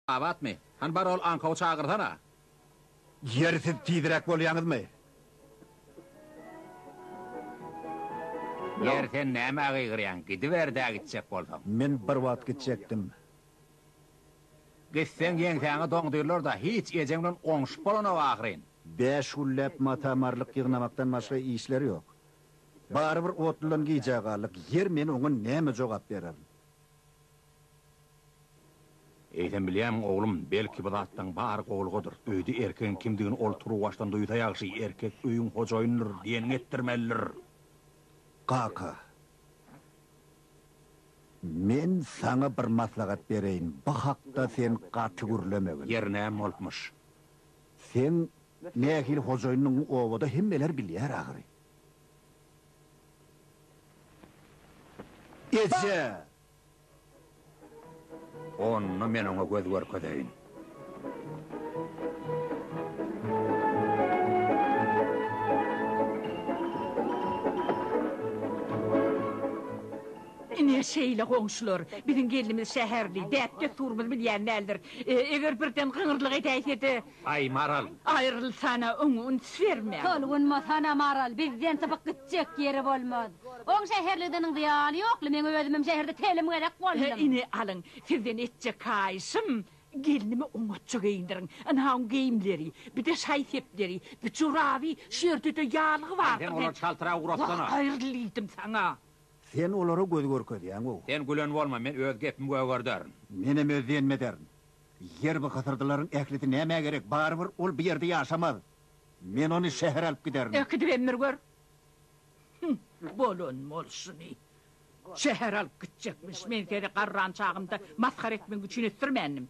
Abatmy? Hany bar ol aňkawy çagyrsana. Ýeri siz tizräk bolýaňyzmy? Ýeri sen nämä gygyrýaň, gidiber-dä gitjek bolsaň. Men bir wagt gitjekdim. Gitseň ýeňsäňe doňdyrlar-da, hiç ejeň bilen oňuşyp bolanok ahyryn. Bäş gülläp mata-marlyk ýygnamakdan başga işleri ýok. Barybir otludan gijä galdyk, ýer men oňa näme jogap bererin. Eýsem bilýämiň, oglum, belki bu zatlaň bary gowlugadyr. Öýde erkegiň kimdigini ol turuwbaşdan duýsa ýagşy, erkek öýüň hojaýynydyr, diýenini etdirmelidir. Kaka, men saňa bir maslahat bereýin, bu hakda sen gaty gürlemegin. Ýerinem bolupmyş. Seň Nähili hojaýyndygyňy obada hemmeler bilýär ahyry. Eje! Onda men oňa göz görkezeýin. Ine, şeýle goňşular. Biziň gelnimiz şäherli, däp-dessurymyzy bilýän däldir. Eger birden gyňyrlyk edäýse-de, Aý, Maral! Aýrylsana, oňa üns berme! Tolgunmasana, Maral, bizden sypyk gitjek ýeri bolmaz. Oň şäherligdeniň zyýany ýokly, men özümem şäherde telim gezek boldum. Ine, alyň, sizden etjek haýyşym, gelnimi oňatja geýindiriň. Ynha, oň geýimleri, bir-de şaý-sepleri, bir joraby, şu ýerde-de ýaglygy bardyr. Aý, sen olary çaltyragy guratsana! Wah, aýryl diýdim saňa! Sen olara göz görkezýäň-ow! Sen gülen bolma, men öz gepimi gögerderin. Menem öz diýenimi ederin. Ýer bu hysyrdylaryň ählisi nämä gerek, barybir ol bu ýerde ýaşamaz. Men ony şähere alyp giderin. Äkidip emdir gör. Hüň, bolan bolşuny. Şähere alyp gitjekmiş. Men seni garran çagymda masgara etmek üçin ösdürmändim.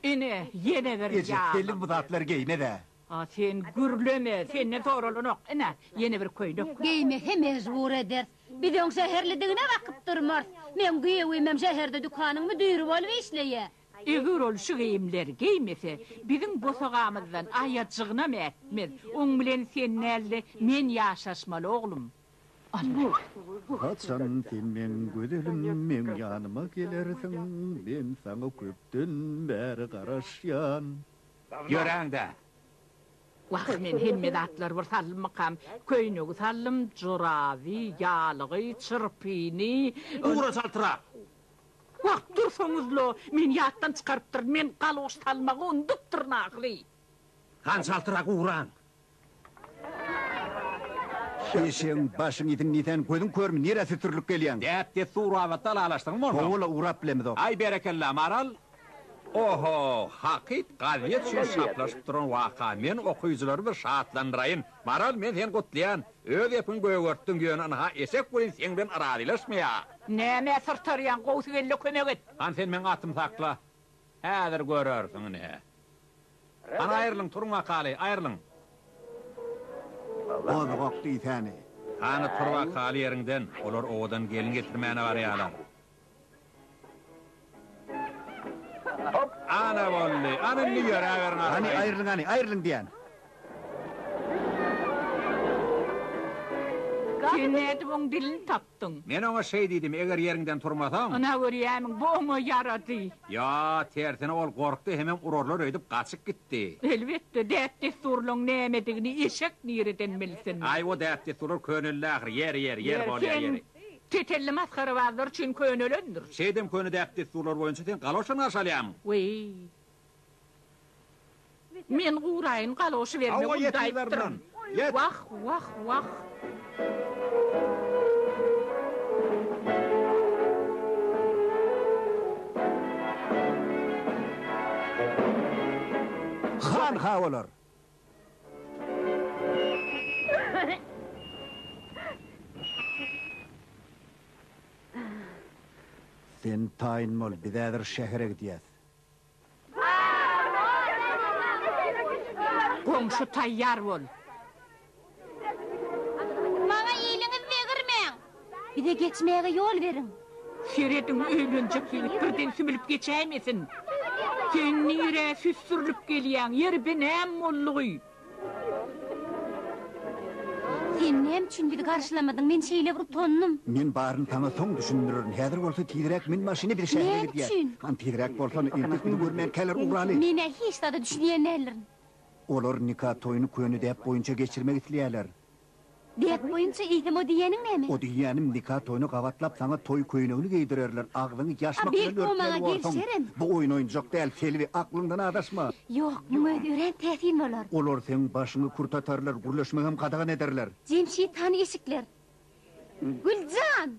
Ine, ýene bir ýalan. Eje, heniz bu zatlar geýmez-ä. A sen gürleme, senden soralanok, ine, ýene bir köýnek. Geýmeke mejbur ederis. Biz öň şäherlidigine bakyp durmarys. Meň giýewimem şäherde dükanyň müdiri bolup işleýär. Eger ol şu geýimleri geýmese, biziň bosagamyzdan aýajygynam ätmez. Oň bilen sen däl-de, men ýaşaşmaly, oglum. Almyrat. Haçan sen meň gözelim, meň ýanyma gelersiň? Men saňa köpden bäri garaşýan. Ýöräň-dä! Wah, men hemme zatlary bir saldymmykam? Köýnegi saldym, joraby, ýalygy, çyrpyny. Ugra çaltyra! Wah, dursaňyz-la, meni ýatdan çykarypdyr, men galgoş salmagy unudupdyryn ahyry. Gan çaltyrak ugran! Eşegiň başyň iziň nisen gözüň körmi nirä sütürlüp gelýäň. Däp dessur babatda alalaşdygyň bolsa. Howala urap bilemizok. Aý berekella Maral. Oho hakyt gazet üçin şaplaşyp duran waka men okyjylary bir şatlandyraýyn. Maral men seni gutlaýan. Öz epiňi gögertdiň ýöne ynha eşek welin seň bilen razylaşmaýa. Nämä syrtarýaň gowsy gelle kömek et. Han sen meň atymy sakla. Häzir görersiň ine. Hany aýrylyň, turuň akaly, aýrylyň. Gozgak diýsäni. Hany tur akaly ýeriňden, olar owadan gelin getirmäne barýarlar. Ana boldy, ana indi ýöräberiň arkaýyn. Hany aýrylyň hany, aýrylyň diýen. Sen nädip oň dilini tap. tutduň. Men oňa şeý diýdim, Eger ýeriňden turmasaň. Ynha, görýämiň, bu oňa ýarady. Ýa, tersine, ol gorkdy hemem urarlar öýdüp gaçyp gitdi. Elbetde, däp-dessurlaň nämedigini eşek nireden bilsin? Aý, o däp-dessurlar köneldi ahyry. Ýeri, ýeri, ýeri bolýar, ýeri. Sen tetelli masgarabazlar üçin könelendir. Şeýdem köne däp-dessurlar boýunça sen galoşlaryňy arşalýarmyň? Weý, Men guraýyn galoşy berme ul daýypdyryn. Wah, wah, wah. Han ha bolar. Sen taýyn bol, biz häzir şähere gidýäs. Goňşy taýýar bol. Maňa iliňiz degirmäň. Bize geçmäge ýol beriň. Serediň, öýlenjek ýigit birden sümülip geçäýmesin. Sen nirä süsdürilip gelýäň, ýeri binäm boldugy? Sen näme üçin bizi garşylamadyň? Men şeýle bir utandym. Men baryny saňa soň düşündirerin. Häzir bolsa tizräk min maşyny biz şähere gidýäs. Näme üçin? Han tizräk bolsan, entek bizi görmänkäler ugraly. Men-ä hiç zada düşünýän däldirin. Olar nika toýuny köne däp boýunça geçirmek isleýärler. Dek boýunça iýdim o diýýäniň näme? O diýýänim nika toýuna gabatlap saňa toý köýnegini geýdirerler agzyňy ýaşmak bilen örtmeli borsuň. Bu oýun oýunjak däl Selbi aklyňdan adaşma. Ýok muň özi örän täsin bolar. Olar seň başyňy kürtatarlar gürleşmegem gadagan ederler. Jemşit hany eşikler. Güljan!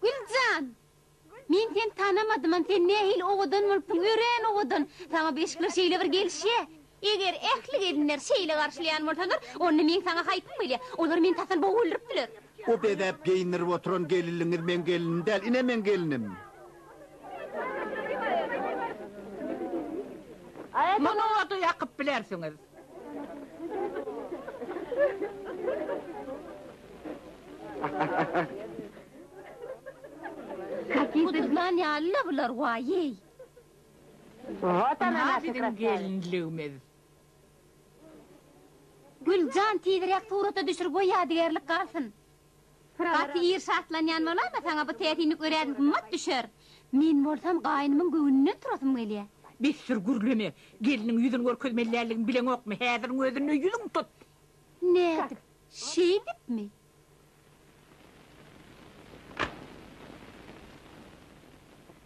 Güljan! Men seni tanamadymam, sen nähili owadan bolupsyň, örän owadan. Saňa bu eşikler şeýle bir gelişýä. Eger ähli gelinler şeýle garşylaýan bolsalar, onda meň saňa haýpym gelýär. Olar meni tasan bogup öldüripdiler. O bezäp geýindirip oturan gelinligiňiz meň gelnim däl, ine meň gelnim. Muny oda ýakyp bilersiňiz. Guduzlan ýaly-la bular, waýeý! Ynha biziň gelinligimiz. Gül jan, tizräk surata düşür goý ýadygärlik galsyn. Gaty ir şatlanýan bolanda saňa bu täsinlik örän gymmat düşer. Men bolsam gaýnymyň göwnünden turasym gelýär. Besdir gürleme. Gelniň ýüzüni görkezmeli däldigini bileňokmy? Häziriň özünde ýüzüňi tut. Nädip? Şeýdipmi?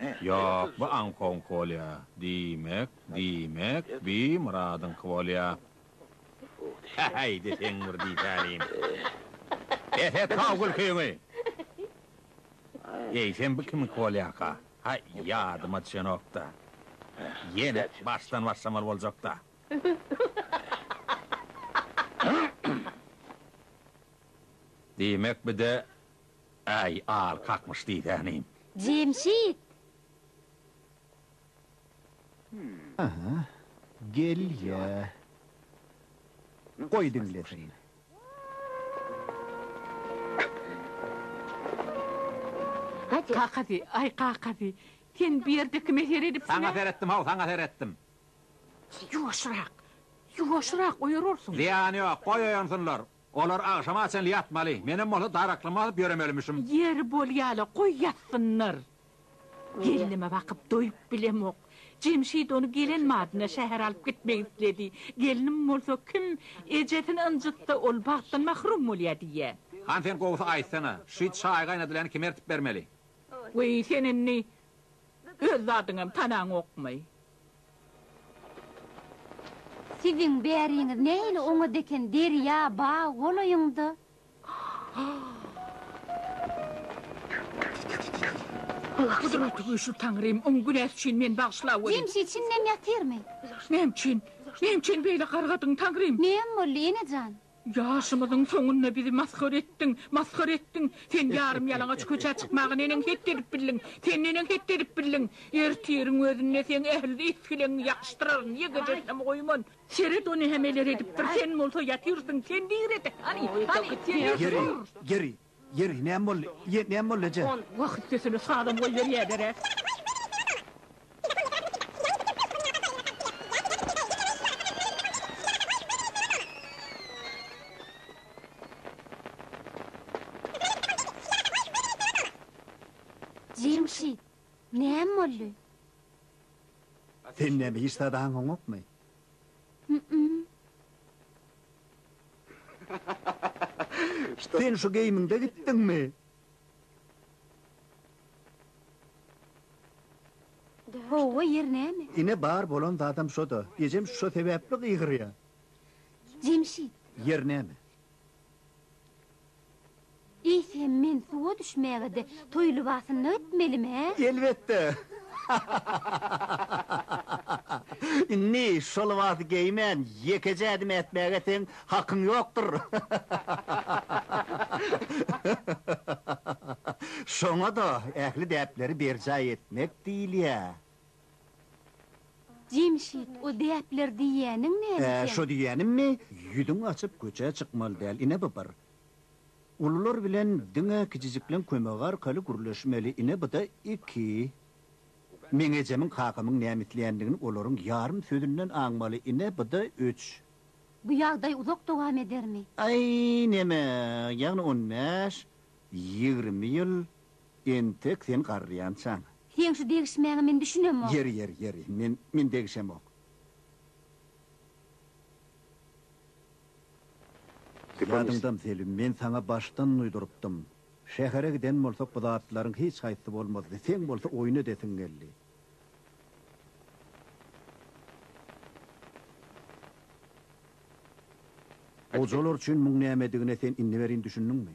Ýok, bu aňkoňky bolýa. Diýmek, diýmek, bi Myradyňky bolýa. Häý-häý, deseň bir diýsänim. Bes et-haw gülkiňi! Eýsem bu kimiňki bolýarka? Haý, ýadyma düşenok-da. Ýene başdan başlamaly boljak-da. Diýmek, bi-de Äý, al kakmyş diýsäni. Jemşit! Aha, gel-ä. Goý diňlesin. Kakasy, aý, kakasy, sen bu ýerde kime seredipsiň-ä? Saňa seretdim-ow, saňa seretdim. Ýuwaşrak, ýuwaşrak, oýararsyň. Zyýany ýok, goý oýansynlar. Olar agşama çenli ýatmaly. Menem bolsa daraklymy alyp ýöremelimişim. Ýeri bolýa-la, goý ýatsynlar. Gelnime bakyp doýup bilemok. Jemşit ony gelen badyna şähere alyp gitmek isledi. Gelnim bolsa, Kim ejesini ynjytsa, ol bagtdan mahrum bolýar diýýä. Hany sen gowusy aýtsana, şü çaý gaýnadylany kime ertip bermeli? Weý, sen indi öz zadyňam tanaňokmy? Siziň bäriňiz nähili oňat eken derýa bag bolaýyňda. Gudratly güýçli Taňrym oň günäsi üçin meni bagyşla weli. Jemşit şindem ýatyrmy? Näme üçin? Näme üçin beýle gargadyň Taňrym? Näme boldy enejan? Ýaşymyzyň soňunda bizi masgara etdiň, masgara etdiň. Sen ýarym-ýalaňaç köçä çykmaga neneň het edip bildiň? Sen neneň het edip bildiň? Ertiriň özünde seň ähli isgileňňi ýakyşdyraryn, ýegejesinem goýman. Seret, o nämeler edipdir, sen bolsa ýatyrsyň. Sen diýre-de, hany, hany, sen diýre, tur! Geri, geri! Ýeri, näme boldy? Ýe, näme boldy, eje? Ol wah üstesine sazam goýberýäler-ä. Jemşit, näme boldy? Sen näme hiç zat aňyňokmy? Sen şu geýimiňde gitdiňmi? Howwa, ýer näme? Ine, bar bolan zadam şo-da. Ejem şo sebäpli gygyrýar. Jemşit. Ýer näme? Eýse men suwa düşmäge-de toý lybasynda gitmelimi-hä? Elbetde! Indi şo lybasy geýmän ýekeje ädim ätmäge seň hakyň ýokdur. Şoňa-da ähli däpleri berjaý etmek diýilýär. Jemşit, o däpler diýýäniň näme sen? Ä, şo diýýänimmi? Ýüzüňi açyp köçä çykmaly däl, ine bu bir. Ulular bilen diňe kijijikleň kömegi arkaly gürleşmeli, ine bu-da iki. Meň ejemiň kakamyň näme isleýändigini olaryň ýarym sözünden aňmaly, ine bu-da üç. Bu ýagdaý uzak dowam edermi? Aý, neme, ýagny on bäş, ýigrimi ýyl, Entek sen garrýançaň. Seň şu degişmäňe men düşünemok. Ýeri, ýeri, ýeri. Men, men degişemok. Ýadyňdam, Selim, men saňa başdan duýdurypdym. Şähere giden bolsak, bu zatlaryň hiç haýsy bolmazdy. Seň bolsa oýun edesiň geldi. Gojalar üçin muň nämedigine sen indi welin düşündiňmi?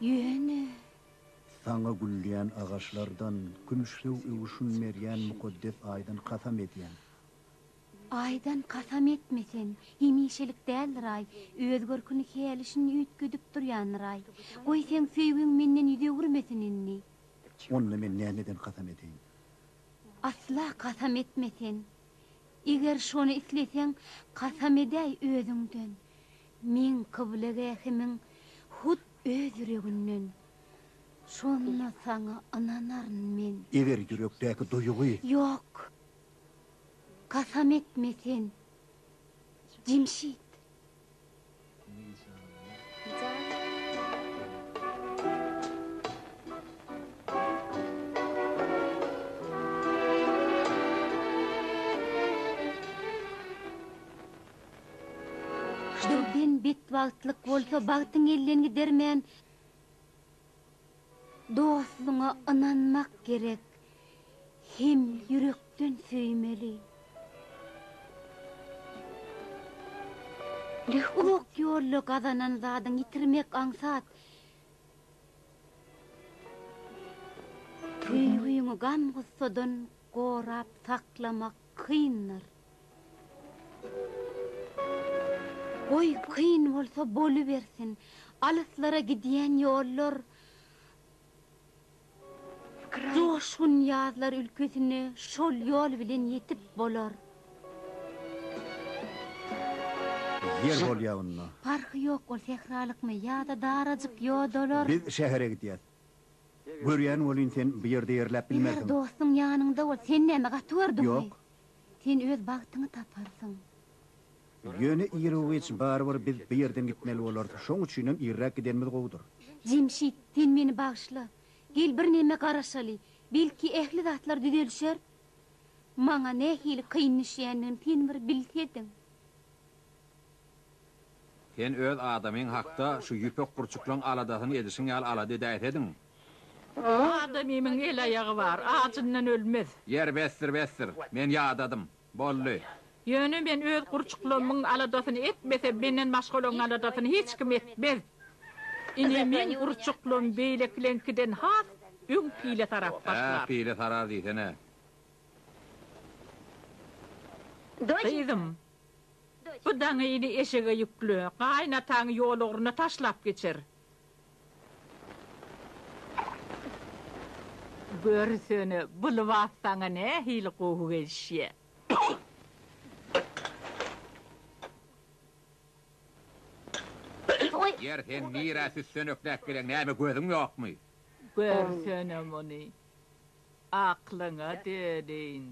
Ýöne. Saňa gülleýän agaçlardan, kümüşlew öwüşgin berýän mukaddes Aýdan kasam edýän. Aýdan kasam etme sen, hemişelik däldir-aý, öz görküni hälişin üýtgedip durýandyr-aý. Goý, seň söýgiň menden ýüz öwürmesin indi. Onda men nämeden kasam edeýin? Asla kasam etme sen. Eger şony isleseň, kasam edäý özüňden. Meň kyblegähimiň hut öz ýüreginden. Şonda Saňa ynanaryn men. Eger ýürekdäki duýgy. Ýok, kasam etme sen, Jemşit! Birden betbagtlyk bolsa bagtyň elinden gidermän dostuňa ynanmak gerek hem ýürekden söýmeli. Uzak ýolda gazanan zadyň ýitirmek aňsat. Söýgiňi gam-gussadan gorap saklamak kyndyr. Goý, kyn bolsa bolubersin. Alyslara gidýän ýollar joşgun ýazlar ülkesine şol ýol bilen ýetip bolar. Ýer bolýa onda. Parhy ýok ol sähralykmy ýa-da darajyk ýodalar. Biz şähere gidýäs. Görýän welin sen bu ýerde ýerläp bilmersiň. Eger dostuň ýanyňda bolsa sen näme gaty gördüňmi? Ýok. Sen öz bagtyňy taparsyň. Ýöne Irowiç, barybir biz bu ýerden gitmeli bolarys. Şoň üçinem irräk gidenimiz gowudyr. Jemşit, sen meni bagyşla. Gel birneme garaşaly. Belki ähli zatlar düzelişer? Maňa nähili kyn düşýändigini sen bir bilsediň. Sen öz adamyň hakda şu ýüpek gurçuklaň aladasyny edişiň ýaly alada edäýsediň. Adamymyň el-aýagy bar, ajyndan ölmez. Ýer besdir, besdir. Men ýadadym. Boldy. Ýöne men öz gurçuklamyň aladasyny etmesem, menden başgalaryň aladasyny hiç kim etmez. Ine, meň gurçuklam beýlekileňkiden has öň pile sarap başlar. Hä, pile sarar diýsene. Gyzym, bu daňyny eşege ýükle. Gaýynataň ýol ugruna taşlap geçer. Görsene, bu lybas saňa nähili gowy gelişýä. Ýeri sen nirä süssenekläp geleň, näme gözüň ýokmy? Görsene muny. Aklyňa döneýin.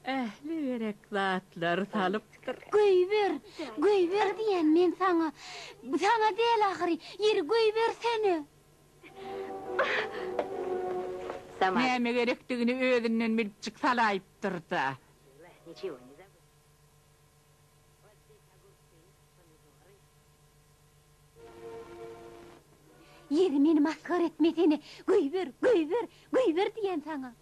Ähli gerek zatlary salypdyr. Göýber! Göýber diýýän men saňa! Saňa däl ahyry! Ýeri, göýbersene! Näme gerekdigini özünden bilipjik salaýypdyr-da. Ýeri meni masgara etmesene! Göýber, göýber, göýber diýýän saňa!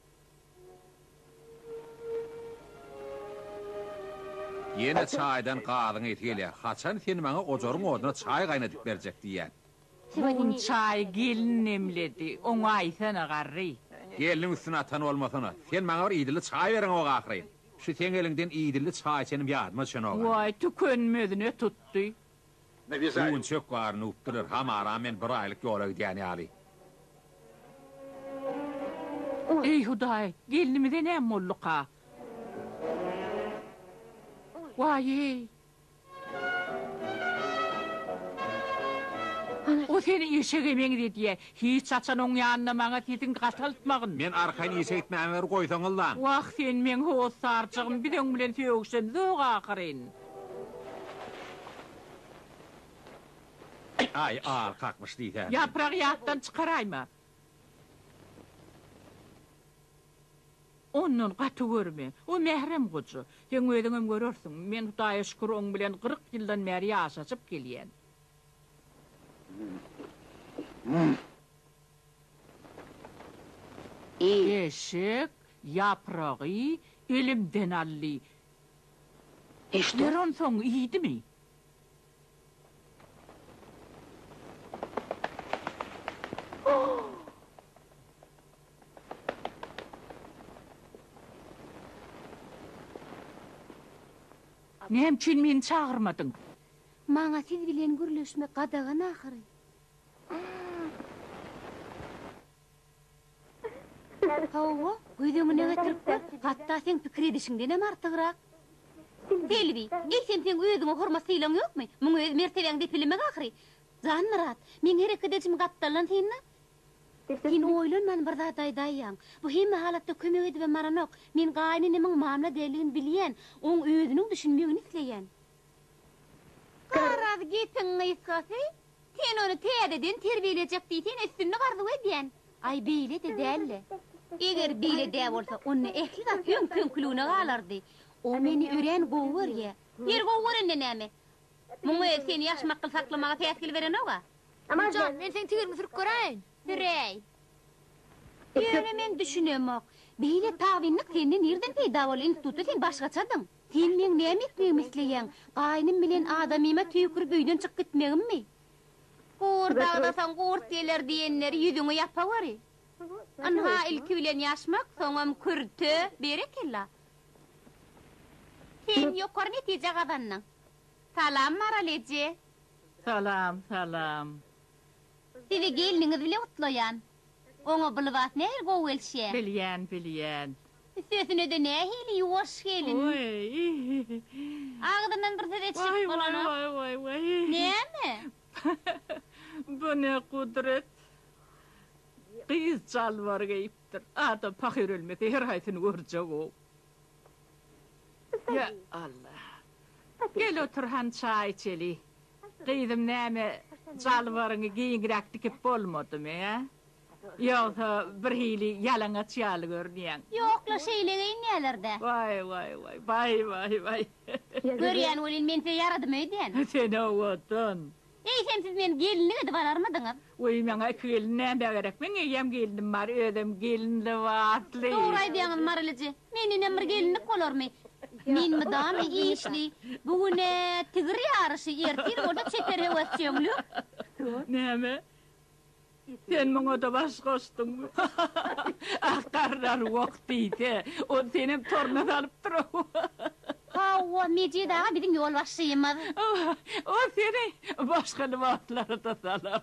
Ýene çaýdan gazyň ysy gelýär. Haçan sen maňa ojaryň oduna çaý gaýnadyp berjek diýýän. Bu gün çaýy gelin demledi. Oňa aýsana, garry! Gelniň üstüne atan bolmasana. Sen maňa bir idili çaý bereňok ahyryn. Şu seň eliňden idilli çaý içenim ýadyma düşenok-a. Waý, tükenmezine tutdy. Gün çök bary nüwüpdirler, hamara men bir aýlyk ýola gidýän ýaly. Eý, Hudaý, gelnimize näme bolduka? Waý-eý! O seni eşege meňzedýä. Hiç haçan oň ýanynda maňa sesiňi gataltmagyn. Men arkaýyn işe gitmämi bir goýsaňyzlaň. Wah, sen meň hossarjygym, biz oň bilen sögüşemizok ahyryn. Aý, agy kakmyş diýsäni. Ýaprak ýatdan çykaraýma. Ondan gaty görme. O mährem goja. Seň özüňem görersiň. Men Hudaýa şükür oň bilen gyryk ýyldan bäri ýaşaşyp gelýän. Eşek ýapragy elimden aldy. Ýeri onsoň iýdimi? Näme üçin meni çagyrmadyň? Maňa siz bilen gürleşmek gadagan ahyry. Hawa, göz öňüne getirip gör, hatda seň pikir edişiňdenem artygrak. Selbi, eýsem seň özüňe hormat-sylaň ýokmy? Muňa öz mertebeň depelemegi ahyry. Janmyrat, meň her iki dejim gapdaldan synla. Sen oýlanman bir zat aýdaýýaň. Bu hemme halatda kömek edibem baranok. Men gaýynenemiň mamla däldigini bilýän, oň özüniň düşünmegini isleýän. Garaz gepiň gysgasy, sen ony täzeden terbiýelejek diýseň üstünlik arzuw edýän. Aý beýle-de däl-le. Eger beýle-dä bolsa, onda ähli zat öňki-öňküligine galardy. O meni örän gowy görýä. Ýeri gowy görende näme? Muň özi seni ýaşmakgyl saklamaga päsgel berenog-a. Güljan, men seň tigiriňi sürüp göräýin. Süräý. Ýöne men düşünemok. Beýle tabynlyk sende nirden peýda boldy? Institutda sen başgaçadyň. Sen meň näme etmegimi isleýäň? Gaýnym bilen adamyma tüýkürip öýden çykyp gitmegimmi? Gurt agzasaň gurt geler diýenleri ýüzüňe ýapaweri. Ynha, ilki bilen ýaşmak, soňam kürte, berekella. Sen ýokary netije gazandyň. Salam, Maral eje. Salam, salam. Sizi gelniňiz bilen gutlaýan. Oňa bu lybas nähili gowy gelişýä. Bilýän, bilýän. Üstesine-de nähili ýuwaş gelin. Waý. Agzyndan bir söz-e çykyp bolanok. Waý, waý, waý, waý. Näme? Bu ne gudret. Gyz jalbar geýipdir. Adam pahyr ölmese, her haýsyny görjek-ow. Ýa Alla. Gel otur han çaý içeli. Gyzym näme jalbaryňy giňräk dikip bolmadymy hä? Ýogsa birhili ýalaňaç ýaly görünýäň. Ýok-la şeýle geýinýäler-dä. Waý waý waý baý waý waý. Görýän welin men size ýaradym öýdýän. Sen owadan. Eýsem siz meni gelinlik edip alarmydyňyz? Weý, maňa iki gelin nämä gerek? Meň eýýäm gelinim bar, özem gelin lybasly. Dogry aýdýaňyz Marylyje. Men inem bir gelinlik bolarmy? Men mydama işli. Bu gün-ä tigir ýaryşy, ertir bolsa çeper höwesjeňlik. Näme? Sen muňa-da baş goşduňmy? Ah, garrary wok diýse, ony senem toruna salypdyr-ow. Hawa, Mejit aga biziň ýolbaşçymyz. Ol seni başga lybaslara-da salar.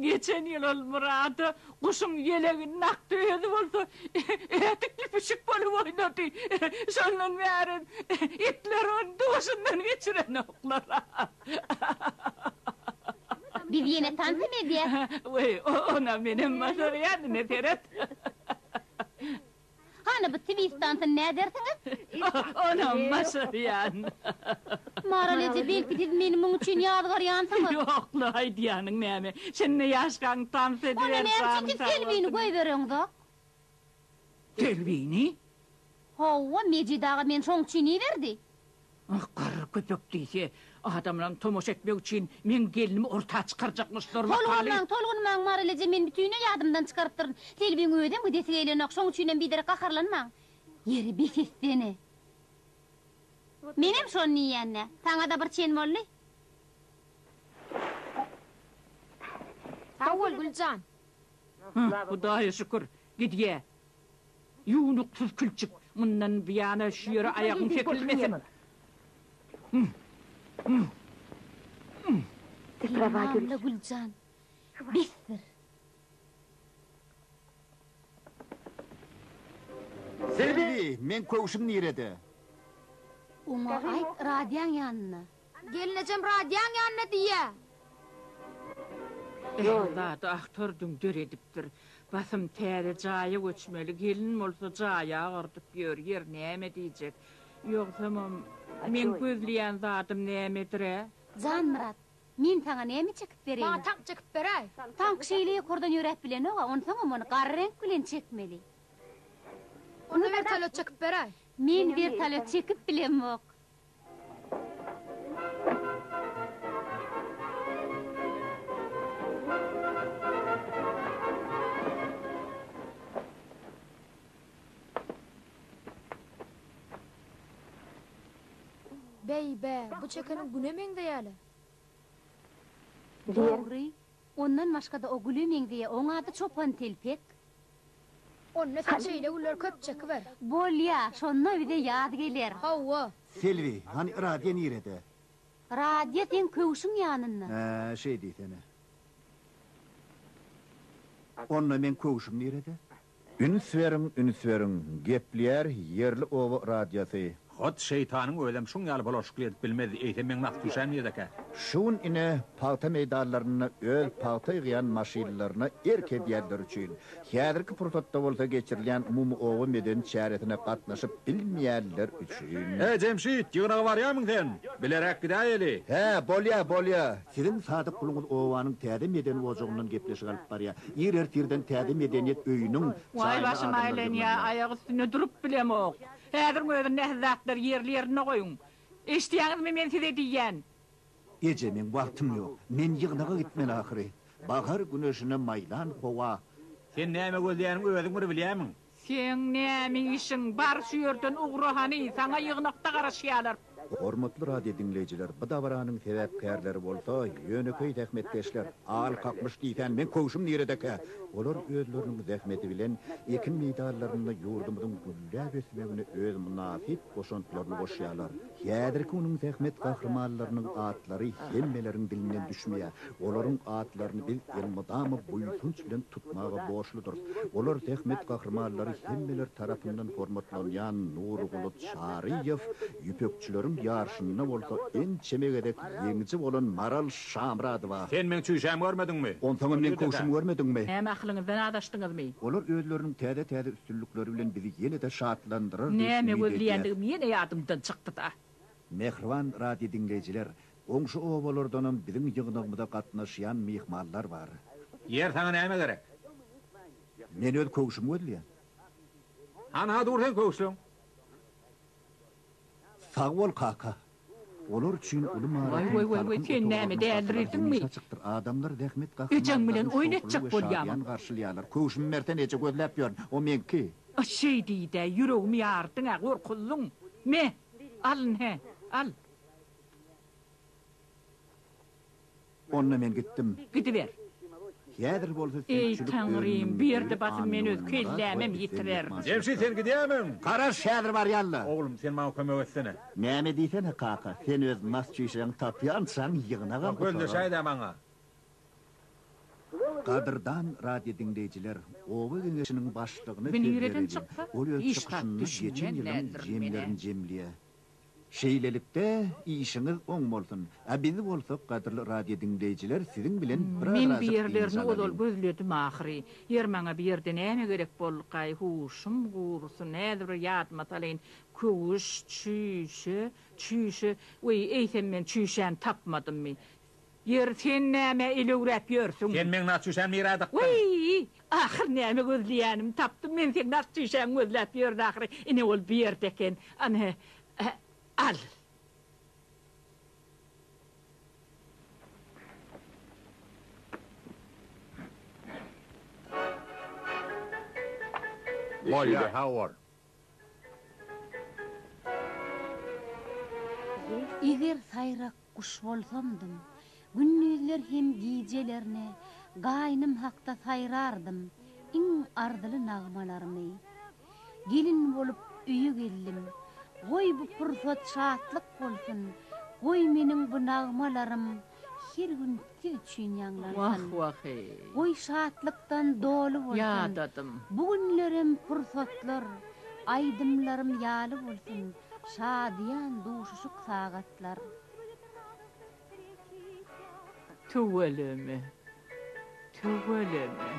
Geçen ýyl ol Murada guşuň ýelegini nakdy, özi bolsa ädikli pişik bolup oýnady. Şondan bäri itler ony duşundan geçirenoklar. Biz ýene tansam edýäs. Weý, onam menem başarýan, ine seret. Hany bu twist tansyny nädersiňiz? Onam başarýan. Maral eje, belki siz meni muň üçin ýazgarýansyňyz? Ýok-la, aýdýanyň näme? Şindi ýaşkaň tans ediber, janyň sag bolsun. Onda näme üçin siz Selbini goýbereňzok? Delbini? Hawa, Mejit aga meni şoň üçin iberdi. Ah, garry köpek diýse, adamlaryň tomaşa etmegi üçin meň gelnimi orta çykarjakmyşlar, wakaly. Tolgunmaň, tolgunmaň, Mary Leje, men bütinleý ýadymdan çykarypdyryn. Delbiň özem gidesi gelýänok, şoň üçinem biderek gaharlanmaň. Ýeri, bes etsene. Menem şony diýýän-dä. Saňa-da bir çen boldy. Sag bol, Gül jan. Hah, Hudaýa şükür, gidýä. Ýuwnuksyz külçik, mundan buýana şu ýere aýagyň çekilmesin. Diýmagla, Güljan, besdir! Selbi, meň köwşüm nirede? Oňa aýt, Razyýaň ýanynda. Gelnejem radioň ýanynda diýýä. Ähli zady awtordyň döredipdir. Basym täze jaýa göçmeli gelin bolsa jaý agyrdyp ýör ýer näme diýjek. Ýogsamam meň gözleýän zadym nämedirä? Janmyrat, men saňa näme çekip bereýin? Maňa tank çekip beräý. Tank şeýle ýokardan ýöräp bilenoga, onsoňam ony gara reňk bilen çekmeli. Onda wertolýot çekip beräý. Men wertolýot çekip bilemok. Beý-be, bu çekeniň güne meňzeýä-le. Dogry, Ondan başgada o güle meňzeýä oň ady çopan telpek. Onda sen şeýle güller köp çekiber. Bolýa, şonda bize ýaz geler. Hawa. Selbi, hany Radýa nirede? Radýa seň köwşüň ýanynda. Hä, şeý diýsene. Onda meň köwşüm nirede? Üns beriň üns beriň gepleýär ýerli oba radiosy. Hut şeýtanyň özem şuň ýaly bulaşykly edip bilmezdi, eýsem meň nagt düşäm ýerdekä. Şu gün ine pagta meýdanlarynda öz pagta ýygýan maşynlaryna erk edýänler üçin, häzirki pursatda bolsa geçirilýän umumy oba medeni çäresine gatnaşyp bilmeýänler üçin. He Jemşit, ýygnaga barýarmyň sen? Bileräk gidäýeli. Hä, bolýa, bolýa. Siziň sadyk guluňyz obanyň täze medeni ojagyndan gepleşik alyp barýar. Ir ertirden täze medeniýet öýüniň Waý jaýyna başym adamlar aýlanýa ýygnanýar. aýak üstünde durup bilemok. Häziriň özünde ähli zatlary ýerli ýerinde goýuň. Eşidýäňizmi men size diýýän. Eje meň wagtym ýok. Men ýygnaga gitmeli ahyry. Bahar güneşine maýlan howa. Sen näme gözlýäniň özüň bir bilýämiň? Seň näme işiň bar şu ýerden ugra hany saňa ýygnakda garaşýalar. Hormatly radio diňleýjiler bu dabaranyň sebäpkärleri bolsa ýönekeý zähmetkeşler, al kakmyş diýsän meň köwşüm niredekä? Olar özleriniň zähmeti bilen ekin meýdanlarynda ýurdumyzyň gülläp ösmegine öz mynasyp goşantlaryny goşýalar. Häzirki günüň zähmet gahrymanlarynyň atlary hemmeleriň dilinden düşmeýär. Olaryň atlaryny biz elmydama buýsanç bilen tutmaga borçludyrys. Olar zähmet gahrymanlary hemmeler tarapyndan hormatlanýan Nurguly Çaryýew, ýüpekçileriň ýaryşynda bolsa ençeme gezek ýeňiji bolan Maral Şamyradowa. Sen meň çüýşämi görmediňmi? Onsoňam meň köwşümi görmediňmi? Näme akylyňyzdan azaşdyňyzmy? Olar özleriniň täze-täze Üstünlikleri bilen bizi ýene-de şatlandyrar diýip Näme umyt edýäs. gözleýändigim ýene ýadymdan çykdy-da. Mähriban radiodiňleýjiler, goňşy obalardanam biziň ýygnagymyza gatnaşýan myhmanlar bar. Ýer, saňa näme gerek? Men öz köwşümi gözleýän. Hany-ha dur seň köwşüň? Sag bol, kaka. Olar üçin uly Waý waý waý waý sen näme dälirdiňmi? Adamlar zähmet Ejeň bilen oýun etjek bolýamyň? garşylýarlar. Köwşümi bersen eje gözläp ýörün. O meňki. A şeý diýdä ýüregimi ýardyň a gorkuzlyň. Me, alyn hä, al. Onda men gitdim. Gidiber. Häzir bolsa süýkçülik Taňrym, bu ýerde basym men öz kellämem ýitirerin. Jemşit sen gidýämiň? Garaş, häzir barýan-la. Oglum, sen maňa kömek etsene. Näme diýsene, kaka, sen öz nas-çişeňi tapýançaň ýygnagam gutara. Gözleşäý-dä maňa. Gadyrdan radiodiňleýjiler, oba geňeşiniň başlygyna söz bereliň. Ol öz çykyşynda geçen ýylyň jemlerini jemleýär. Şeýlelikde, işiňiz oň bolsun! A biz bolsak, gadyrly radio diňleýjiler, siziň bilen bir Men bir arazjyk dynç ýerlerini ozal alalyň. gözledim ahyry. Ýer maňa bu ýerde näme gerek boldukaý, huşum gursun, häzir bir ýadyma salaýyn, köwüş, çüýşe, çüýşe, weý, eýsem men çüýşäni tapmadymmy? Ýeri sen nämä elewräp ýörsüň? Sen meň naçüşäm nirä dykdyň? Weý! Ahyr näme gözleýänim tapdym men seň naçüşäň gözläp ýördi ahyry ine ol bu ýerde eken ana al. Bolýar. Eger saýrak guş bolsamdym, gündizler hem gijelerine gaýnym hakda saýrardym iň arzyly nagmalarymy. Gelin bolup öýe geldim. Goý bu pursat şatlyk bolsun, goý meniň bu nagmalarym Her gün siz üçin ýaňlansyn. Wah wah eý. Goý şatlykdan doly bolsun. Ýadadym. Bu günlerem pursatlar aýdymlarym ýaly bolsun şadyýan duşuşyk sagatlar. Tüweleme. Tüweleme.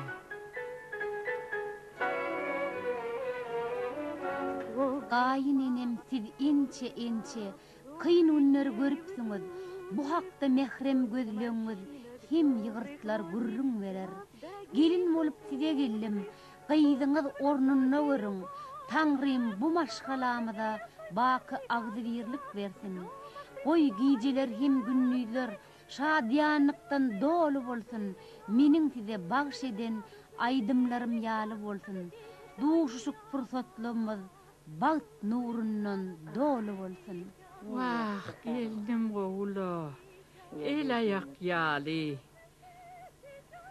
Gaýyn enem siz inçe inçe. Kyn günleri görüpsiňiz, bu hakda mährem gözlegiňiz hem ýygyrtlar gürrüň berer. Gelin bolup size geldim, gyzyňyz ornunda görüň, Taňrym bu maşgalamyza baky agzybirlik bersin. Goý gijeler hem gündizler şadyýanlykdan doly bolsun, meniň size bagş eden aýdymlarym ýaly bolsun. Duşuşyk pursatlymyz. bagt nurundan doly bolsun. Wah gelnim gowula el aýak ýaly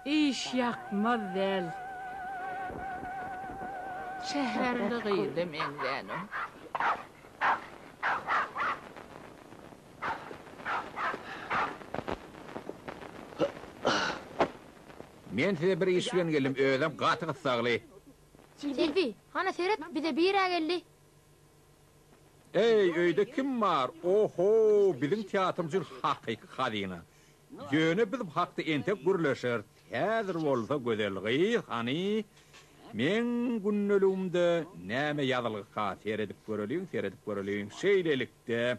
iş ýakmaz däl. Şäherli gyza meňzänok. Men size bir iş bilen geldim özem gaty gyssagly. Selbi, hana seret, bize bir-ä geldi. Eý, öýde kim bar? O-ho, biziň teatr üçin hakyky hazyna. Ýöne biz bu hakda entek gürleşeris. Häzir bolsa, gözel gyz, hany, meň gündeligimde näme ýazylgyka, seredip göreliň, seredip göreliň. Şeýlelikde,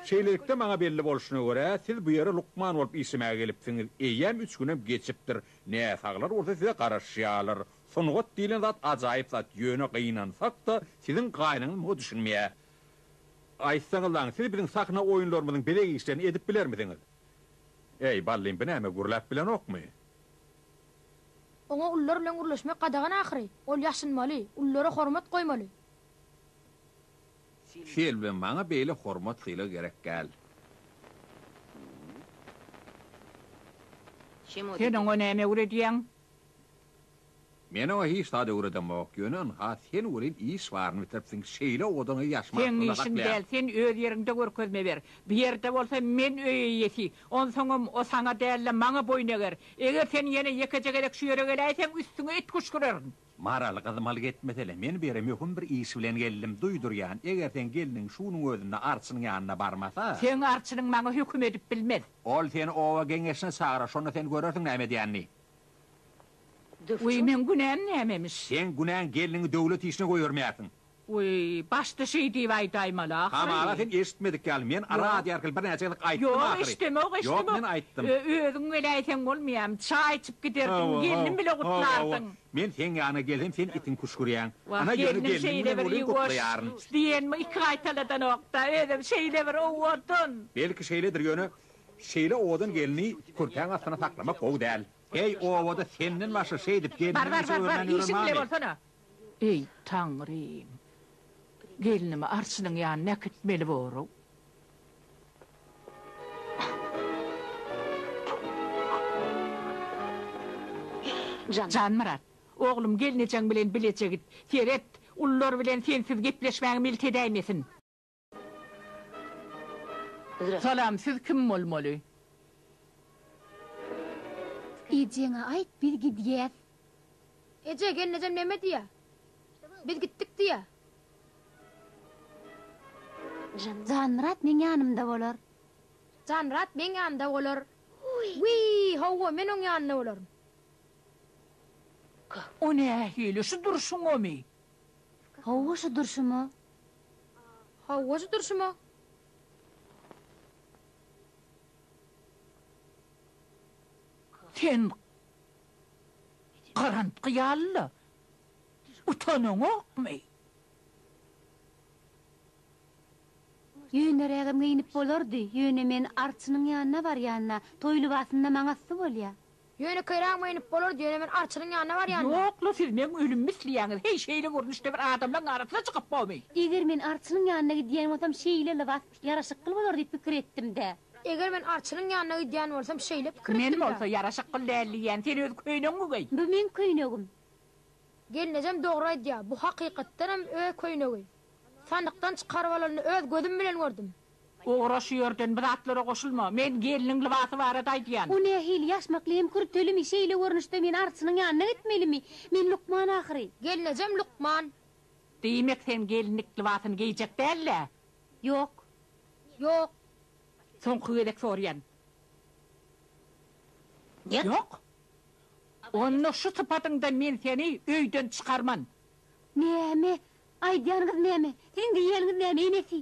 şeýlelikde, maňa belli bolşuna görä, siz bu ýere lukman bolup işlemäge gelipsiňiz. Eýýäm üç günem geçipdir. Näsaglar bolsa size garaşýarlar. Sungat diýlen zat ajaýyp zat, ýöne gynansak-da, siziň gaýynyňyz muňa düşünmeýär. Aýtsaňyz daň, siz biziň sahna oýunlarymyzyň bezeg işlerini edip bilermisiňiz? Eý, Ballin, bu näme, gürläp bilenokmy? Oňa ulylar bilen gürleşmek gadagan ahyry. Ol ýaşynmaly, ulylara hormat goýmaly. Selbi, maňa beýle hormat-sylag gerek däl. Sen oňa näme öwredýäň? Men oňa hiç zat öwredemok, ýöne ynha, sen welin iş baryny bitiripsiň, şeýle owadan ýaşymy Seň aklymda işiň saklaýan. däl, sen öz ýeriňde görkezme ber. Bu ýerde bolsa men öý eýesi, onsoňam o saňa däl-de, maňa boýun eger. Eger sen ýene ýekeje gezek şu ýere geläýseň, üstüňe it küşgürerin. Maral gyzmalyk etmesele, men bu ýere möhüm bir iş bilen geldim, duýdurýan, eger seň gelniň şunuň özünde arçynyň ýanyna barmasa. Seň arçynyň maňa höküm edip bilmez. Ol seni oba geňeşine çagyrar, şonda sen görersiň näme edýänini. Döwçüň. Weý, meň günäm nämemiş? Seň günäň gelniňi döwlet işine goýbermeýärsiň. Weý, başda şeý diýip aýdaýmaly ahyry. Hamala sen eşitmedik ýaly, men radio arkaly birnäçe gyzyk aýtdym ahyry. Ýok, eşdemok, eşdemok. Ýok, men aýtdym. Özüň weläýseň bolmaýamy? Çaý içip giderdiň, gelnim bile gutlardyň. Men seň ýanyňa gelsem, sen itiň küşgürýäň. Wah, gelnim şeýle bir ýuwaş diýenimi iki gaýtaladanok-da, özem şeýle bir owadan. Belki şeýledir, ýöne şeýle owadan gelni kürtäň astyna saklamak gowy däl. Heý, obada senden başga şeýdip gelniňi işe öwürmän ýören barmy? Bar, bar, bar, bar, işiň bile bolsana. Eý, Taňrym! Gelnimi arçynyň ýanyna äkitmeli borug. Janmyrat, oglum, gelnejeň bilen bileje git. Seret, ulylar bilen sensiz gepleşmäge milt edäýmesin. Salam siz kim bolmaly. Ejeňe aýt biz gidýäs. Eje gelnejem neme diýä. Biz gitdik diýä. Janmyrat meň ýanymda bolar. Janmyrat meň ýanymda bolar. Wiý howwa men oň ýanynda bolaryn. O nähili şu durşuňamy. Howwa şu durşuma. Howwajy durşuma. Sen garantgy ýaly-la. Utanaňokmy? Ýönerägem geýnip bolardy, ýöne men arçynyň ýanyna barýanda, toý lybasynda maňa sy bolýa. Ýönekeýräk meýnip bolardy, ýöne men Arçyryň ýanyna barýanda. Ýok-la, siz meň ölümimi isleýäňiz, heý, şeýle görnüşde bir adamlaň arasyna çykyp bomy? Eger men Arçynyň ýanyna gidýän bolsam, şeýle lybas ýaraşykly bolar diýip pikir etdim-dä. Eger men Arçynyň ýanyna gidýän bolsam, şeýle pikir etdim-dä. Men bolsa ýaraşykly däl diýýän, sen öz köýnegiňmi geý? Bu meň köýnegim. Gelnejem dogry aýdýar, bu hakykatdanam öz köýnegi. Sandykdan çykaryp alanyny öz gözüm bilen gördüm. Ugra şu ýerden bu zatlara goşulma. Men gelniň lybasy barada aýdýan. O nähili ýaşmakly hem kürtelimi şeýle görnüşde men arçynyň ýanyna gitmelimi? Men lukman ahyry. Gelnejem lukman. Diýmek sen gelinlik lybasyny geýjek däl-dä? Ýok. Ýok. Soňky gezek soraýan. Nýet? Ýok. Onda şu sypatyňda men seni öýden çykarman. Näme? Aýdýanyňyz näme? Siziň diýýäniňiz näme enesi?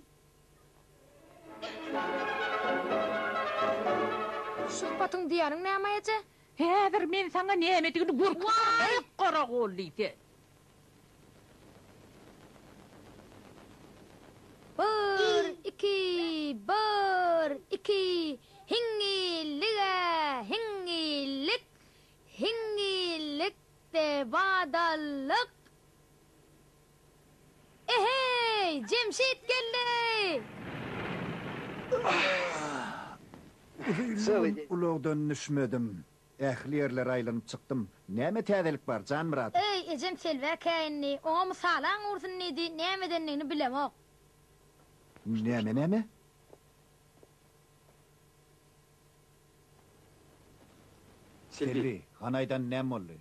Şu sypatyň diýýäniň näme eje? Häzir men saňa nämedigini görkezerem, eý, Garagolly sen! Bir, iki, bir, iki, hiňňillige, hiňňillik, hiňňillikde badallyk! Eheý, Jemşit geldi! Uzynly gün ulagdan düşmedim. Ähli ýerleri aýlanyp çykdym. Näme täzelik bar, Janmyrat? Eý, ejem telbä käýindi. Oňa mysalaň ursun diýdi, näme edendigini bilemok. Näme, näme? Selbi, hanaýdan näme boldy?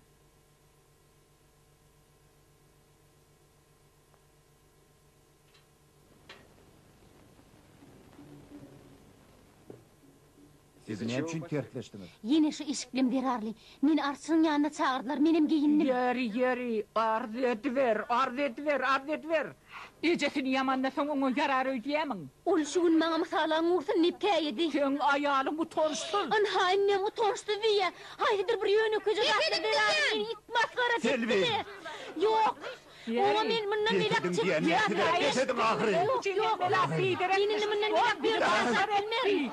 Siz näme üçin tersleşdiňiz? Ýene şu eşiklim zerarly. Meni arçnyň ýanyna çagyrdylar, menem geýindim. Ýöri, ýöri, arz ediber, arz ediber, arz ediber! Ejesini ýamanda soň oňa ýarar öýdýämiň? Ol şu gün maňa mysalaň ursun diýip käýedi. Seň aýalyň utançsyz. Ynhaýyn meň utançsyz diýýä. Haýsydyr bir ýönekeje zatlar zerarly meni it masgara çekdi-de. Ýok. Oňa men mundan beýläk çek ýatyram. Ýok, ýok, ýok. Men indi mundan beýläk bir zat aýdyp bilmerin.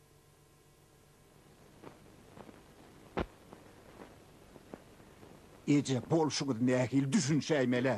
Eje bolşuňyz nähili düşünşäýmelä?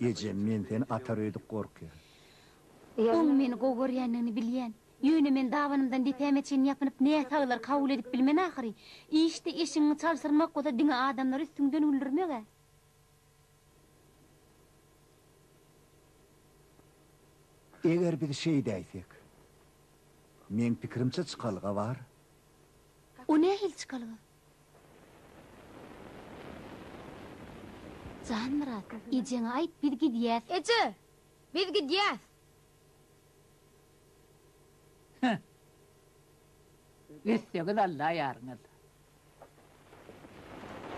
Ejem, men seni atar öýdüp gorkýan. Oň meni gowy görýändigini bilýän. Ýöne men dabanymdan depäme çenli ýapynyp näsaglar kabul edip bilmen ahyry. Işde eşigiňi çalşyrmak bolsa diňe adamlary üstüňden güldürmek-ä. Eger biz şeýdäýsek. Meň pikirimçe çykalga bar. O nähili çykalga? Janmyrat, ejeňe aýt, biz gidýäs. Eje! Biz gidýäs! Hä. Etsegiz Alla ýaryňyz.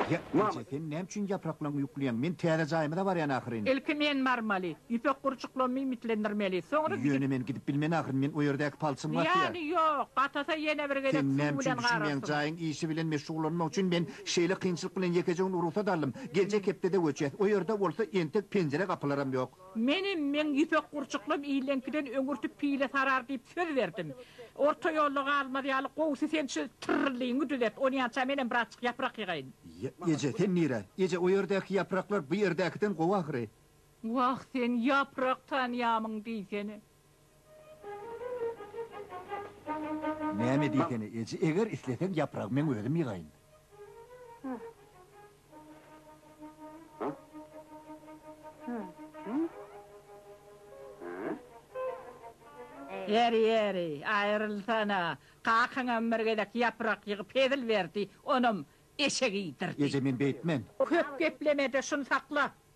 Ýa, eje, sen näme üçin ýapraklaryňy ýuklaýaň? Men täze jaýyma-da barýan ahyryn. Ilki men barmaly. Ýüpek gurçuklaryny iýmitlendirmeli. Soňra gidip. Ýöne men gidip bilmen ahyryn men o ýerdäki palçym gatyýar. Zyýany ýok, gatasa ýene bir gezek Sen näme üçin düşünmeýäň jaýyň işi bilen meşgullanmak üçin men şeýle kynçylyk bilen ýekeje gün rugsat aldym. Geljek hepdede göçýäs. O ýerde bolsa entek penjire gapylaram ýok. Menem meň ýüpek gurçuklym illeňkiden öňürti pile sarar diýip söz berdim. Orta ýolda galmaz ýaly gowusy sen şu tyrryllygyňy düzet. Onýança menem birazjyk ýaprak ýygaýyn. Ýa, eje, sen nirä? Eje, o ýerdäki ýapraklar bu ýerdäkiden gowy ahyry. Wah sen ýaprak tanýamyň diýsene. Näme diýsene eje eger isleseň ýapragy meň özüm ýygaýyn. Ýeri ýeri aýrylsana kakaňam bir gezek ýaprak ýygyp hezil berdi onam eşek iýdirdi. Eje men beýtmen. Köp geplemede şuny sakla.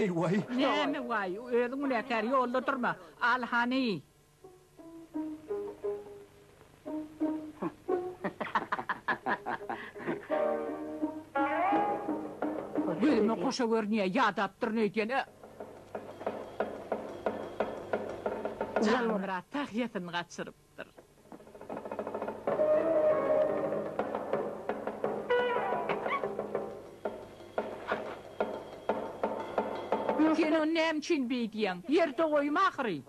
Eý waý! Näme waý? Özüň günäkär, ýolda durma. Al hany! Gözüme goşa görünýär, ýadapdyryn öýdýän. Janmyrat tahýasyny gaçyrypdyr. Sen ony näme üçin beýdýäň? Ýerde goýma ahyry!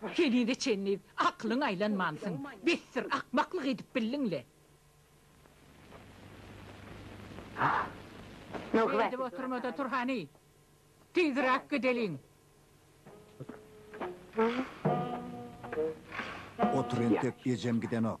Henize çenli akylyň aýlanmansyň. Besdir, akmaklyk edip bildiň-le. Seredip oturma-da tur hany. Tizräk gideliň. Otur entek, ejem gidenok.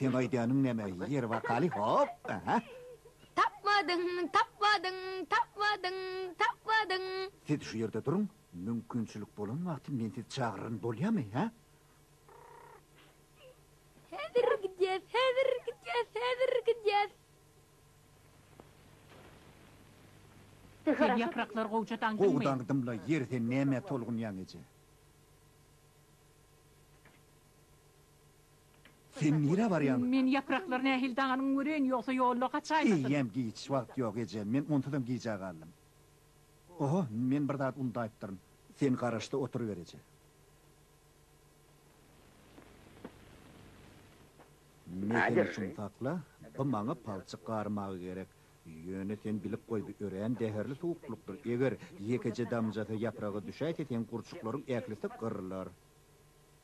Seň aýdanyň näme ýeri wakaly hop aha. Tapmadyň tapmadyň tapmadyň tapmadyň. Siz şu ýerde duruň mümkinçilik bolan wagty men sizi çagyraryn bolýamy hä. Häzir gidýäs häzir gidýäs häzir gidýäs. Sen ýapraklar gowja daňdyňmy. Gowy daňdym la ýeri sen nämä tolgunýaň eje. Sen nirä barýaň? Men ýapraklar nähili daňanyny göreýin, ýogsa ýolda gaçaýmasyn. Eýýäm giç, wagt ýok, ejem. Men onsuzam gijä galdym. Oho, men bir zat undaýypdyryn. Sen garaşda oturyber, eje. Mehini çumsakla, bu maňa palçyk garmaga gerek. Ýöne sen bilip goý, bu örän zäherli suwuklykdyr. Eger ýekeje damjasy ýapraga düşäýse, seň gurçuklaryň ählisi gyrylar.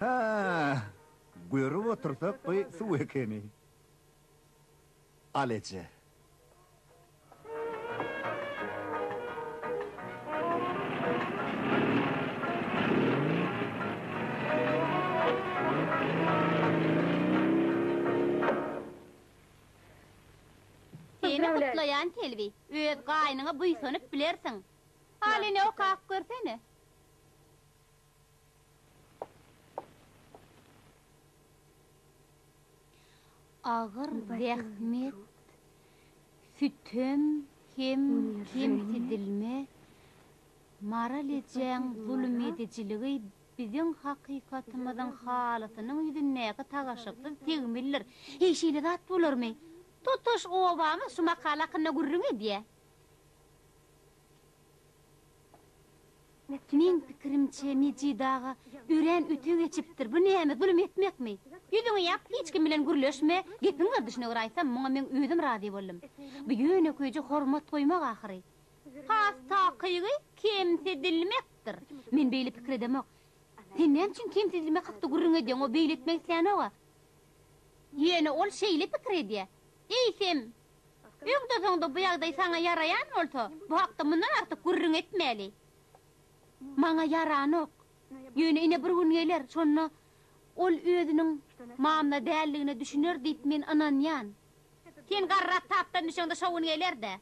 Hä-ä-ä! Görüp otursak bu suw ekeni. Al eje. Seni gutlaýan Selbi. Öz gaýnyňa buýsanyp bilersiň. Halyny okap görsene. Agyr zähmet, sütem hem kemsidilme, Maral ejäň zulumedijiligi biziň hakykatymyzyň halysynyň ýüzündäki tagaşyksyz tegmildir. Heý, şeýle zat bolarmy? Tutuş obamyz şu makala hakynda gürrüň edýär. Meň pikirimçe Mejit aga örän öte geçipdir, bu näme zulum etmekmi? Ýüzüňi ýap, hiç kim bilen gürleşme, gepiň gerdişine görä aýtsam muňa meň özüm razy boldum. Bu ýönekeýje hormat goýmak ahyry. Has takygy kemsidilmekdir. Men beýle pikir edemok. Sen näme üçin kemsidilmek hakda gürrüň edýäň, o beýle etmek islänoga. Ýöne ol şeýle pikir edýä. Eýsem, Öňde-soňda bu ýagdaý saňa ýaraýan bolsa, bu hakda mundan artyk gürrüň etmäli. Maňa ýaranok. Ýöne ine bir gün geler, şonda ol özüniň mamla däldigine düşüner diýip men ynanýan. Sen garrak tapdan düşeňde şo gün geler-dä.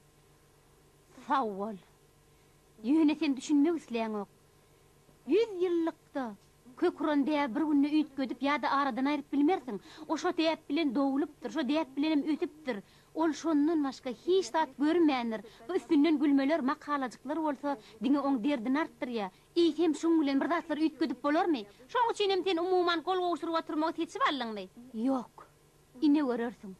Sag bol. Ýöne sen düşünmek isleýäňok. Ýüz ýyllykda kök uran däbi bir günde üýtgedip ýa-da aradan aýryp bilmersiň. O şo däp bilen dogulypdyr, şo däp bilenem ösüpdir. Ol şondan başga hiç zat görmändir. Bu üstünden gülmeler, makalajyklar bolsa diňe oň derdini artdyrýar. Eýsem, şuň bilen bir zatlar üýtgedip bolarmy? Şoň üçinem sen umuman gol gowşuryp oturmagy seçip aldyňmy? Ýok. Ine görersiň.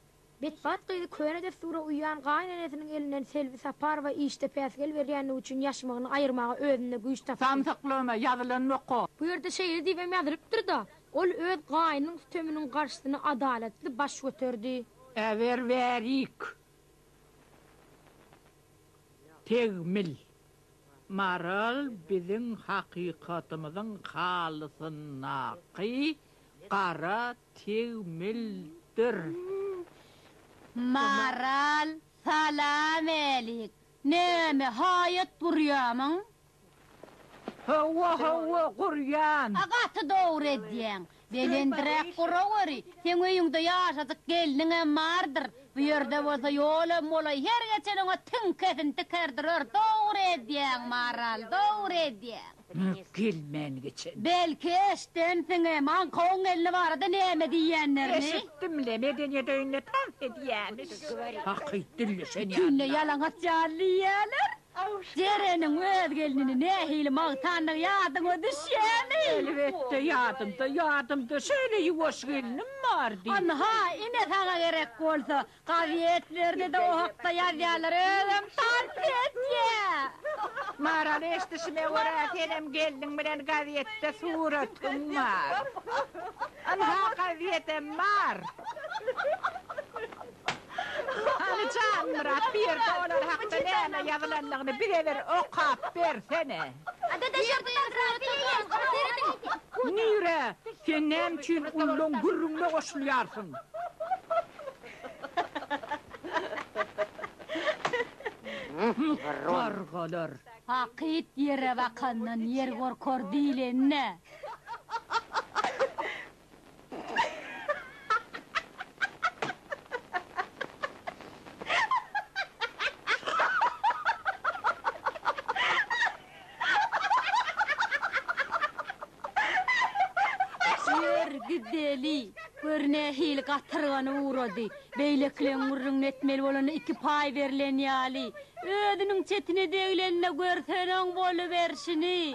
Betbagt gyzy köne dessura uýýan gaýynenesiniň elinden Selbi Saparowa işde päsgel berýänligi üçin ýaşmygyny aýyrmaga özünde güýç tapdy. Samsyklama, ýazylanokko. Bu ýerde şeýle diýibem ýazylypdyr-da, Ol öz gaýnynyň süteminiň garşysyna adalatly baş göterdi. Äber bärik. Tegmil. Maral biziň hakykatymyzyň halysyndaky gara tegmildir. Maral, Salamalik! Näme, haýat gurýamyň? Hawa, hawa, gurýan. A gaty dogry edýäň. Belendiräk guraweri, seň öýüňde ýaşajyk gelniňem bardyr. Bu ýerde bolsa ýolam bolaý, her geçen oňa tiňkesini tikerdirer. Dogry edýäň, Maral, dogry edýäň. Mök gelmän geçen. Belki eşidensiňem, aňkawyň gelni barada näme diýýänlerini? Eşitdim-le, medeniýet öýünde tans edýämiş. Hakyt dilleşen ýaly. Tüýnde ýalaňaç ýaly diýýäler. Jereniň öz gelnini nähili magtandygy ýadyňa düşýämi? Elbetde, ýadymda, ýadymda. Şeýle ýuwaş gelnim bardy. Ynha, ine saňa gerek bolsa, Kazyýet berdide o hakda ýazýarlar özem tansetiýa. Maral eşdişime görä senem gelniň bilen gazetde suratyň bar. Ynha gazetem bar. Hany Janmyrat bu ýerde olar hakda näme ýazylandygyny bize bir okap bersene. Nirä? Sen näme üçin ullaň gürrüňine goşulýarsyň? Gargalar. Hakyt ýere bakandan ýer gorkar diýleni-dä. Ýör, gideli. Gör nähili gatyrgany ugrady. Beýlekileň gürrüňini etmeli bolanda iki paý berlen ýaly. Özüniň çetine deglende görseň-oň boluberşini.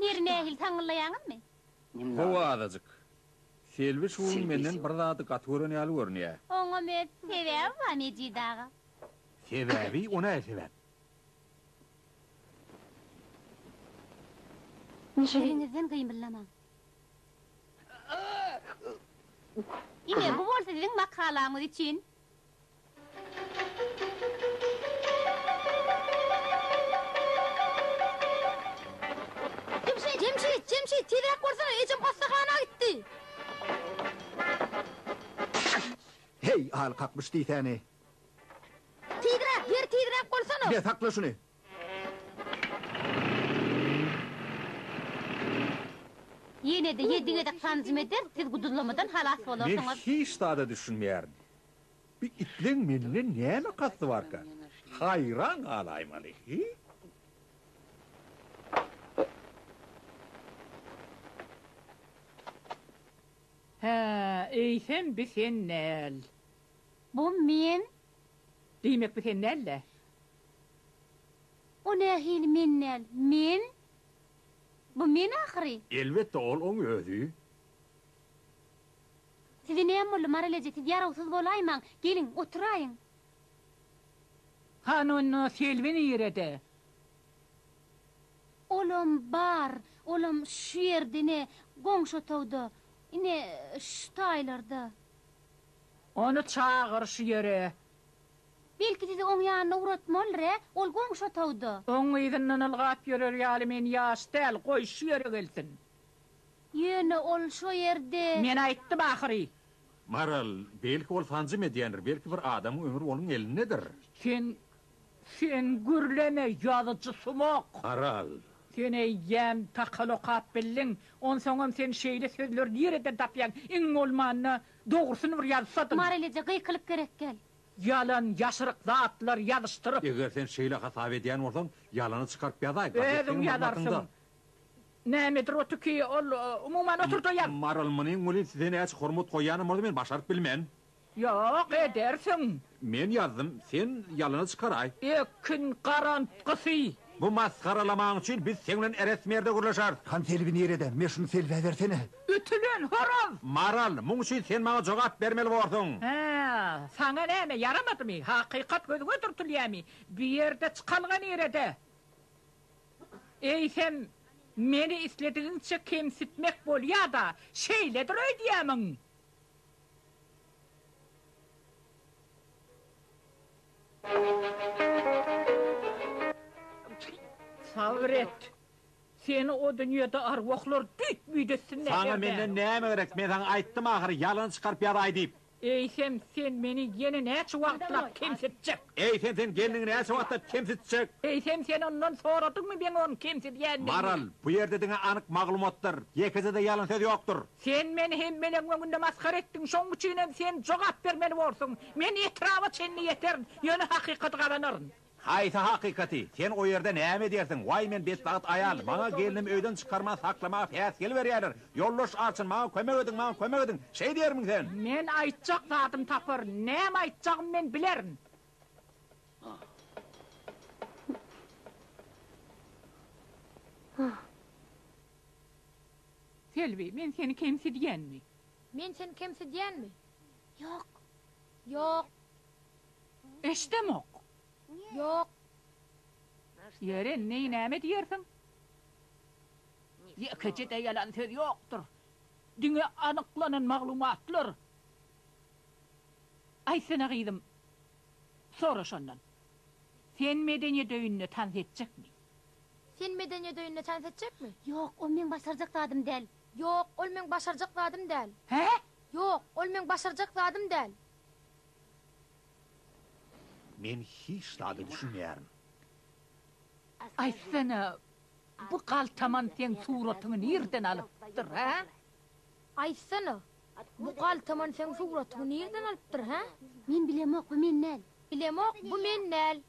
Nir nähili taňňyllaýaňyzmy? Hawa azajyk. Selbi şu gün menden bir zady gaty gören ýaly görünýär. Oňam öz sebäbi bar Mejit aga. Sebäbi? O nähili sebäp? Ýeriňizden gymyldamaň. Ine, bu bolsa siziň makalaňyz üçin. Jemşit, Jemşit, tizräk borsana, ejem hassahana gitdi. Heý, aly kakmyş diýsäni. Tizräk, ýeri tizräk bolsana. Be, sakla şuny. Ýene-de ýedi gezek sanjym eder, siz guduzlamadan halas bolarsyňyz. Men hiç zada düşünmeýärin. Bu itleň menden näme kasdy barka? Haýran galaýmaly, heý? Hä, eýsem bi sen däl. Bu men. Diýmek bu sen däl-dä? O nähili men däl? Men? Bu men ahyry? Elbetde ol oň özi. Size näme boldy, Maral eje, siz ýarawsyz bolaýmaň. Geliň, oturaýyň. Hany onda Selbi nirede? Olam bar, olam şu ýerde, ine, goňşy otagda. Ine, şu taýlarda. Ony çagyr şu ýere. Belki sizi oň ýanyna ugratmalyr-ä, ol goňşy otagda. Oň yzyndan ylgap ýörer ýaly men ýaş däl, goý, şu ýere gelsin. Ýöne ol şo ýerde. Men aýtdym ahyry. Maral, belki ol sanjym edýändir, belki bir adamyň ömri onuň elindedir. Sen, sen gürleme, ýazyjy sumak! Maral. Sen eýýäm takal okap bildiň, onsoňam sen şeýle sözleri nireden tapýaň, iň bolmanda, Dogrusyny bir ýazsadyň. Marylyja gykylyk gerek gel. Ýalan, ýaşryk zatlar ýazyşdyryp. Eger sen şeýle hasap edýän bolsaň, ýalany çykaryp ýazaý, gazetdäki maglumatynda. Özüň ýazarsyň. Nämedir otyky, ol, umuman, otur-da ýaz. Maryl, munyň welin size näçe hormat goýýanymyzy men başaryp bilmen. Ýok, edersiň. Men ýazdym, sen ýalana çykaraý. Ekin garantgysy. Bu masgaralamaň üçin biz seň bilen eres merde gürleşeris. Han selbi nirede? Me şuny selbä bersene. Ütülen horaz! Maral, muň üçin sen maňa jogap bermeli borsuň. Hä, saňa näme, ýaramadymy? Hakykat gözüňe dürtülýämi? Bu ýerde çykalga nirede? Eýsem, meni isledigiňçe kemsitmek bolýa-da, şeýledir öýdýämiň? Sabyr et! Seni o dünýede arwahlar düýt-müýt etsinler, Saňa Berden! menden näme gerek? Men saňa aýtdym ahyry, ýalany çykaryp ýazaý diýip. Eýsem, sen meni ýene näçe wagtlap kemsitjek? Eýsem sen gelniňi näçe wagtlap kemsitjek? Eýsem sen ondan soradyňmy meň ony kemsidýändigimi? Maral, bu ýerde diňe anyk maglumatdyr. Ýekeje-de ýalan söz ýokdur. Sen meni hemmeleriň öňünde masgara etdiň, şonuň üçinem sen jogap bermeli borsuň. Men etraba çenli ýeterin, ýöne hakykaty gazanaryn. Haýsy hakykaty? Sen o ýerde näme edýärsiň? Waý men betbagt aýal, maňa gelnimi öýden çykarman saklamaga päsgel berýärler. Ýoldaş Arçyn maňa kömek ediň maňa kömek ediň şeý diýermiň sen. Men aýtjak zadym tapar näme aýtjagym men bilerin. Selbi men seni kemsidýänmi. Men seni kemsidýänmi. Ýok. Ýok. Eşdemok. Ýok. Ýeri neý näme diýersiň. Ýekeje-de ýalan söz ýokdur. Diňe anyklanan maglumatlar. Aýtsana gyzym, sora şondan. Sen medeniýet öýünde tans etjekmi? Sen medeniýet öýünde tans etjekmi? Ýok, ol meň başarjak zadym däl. Ýok, ol meň başarjak zadym däl. Hä? Ýok, ol meň başarjak zadym däl. Men hiç zada düşünmeýärin. Aýtsana, Bu galtaman seň suratyňy nirden alypdyr hä? Aýtsana, bu galtaman seň suratyňy nirden alypdyr hä? Men bilemok, bu men däl. Bilemok, bu men däl.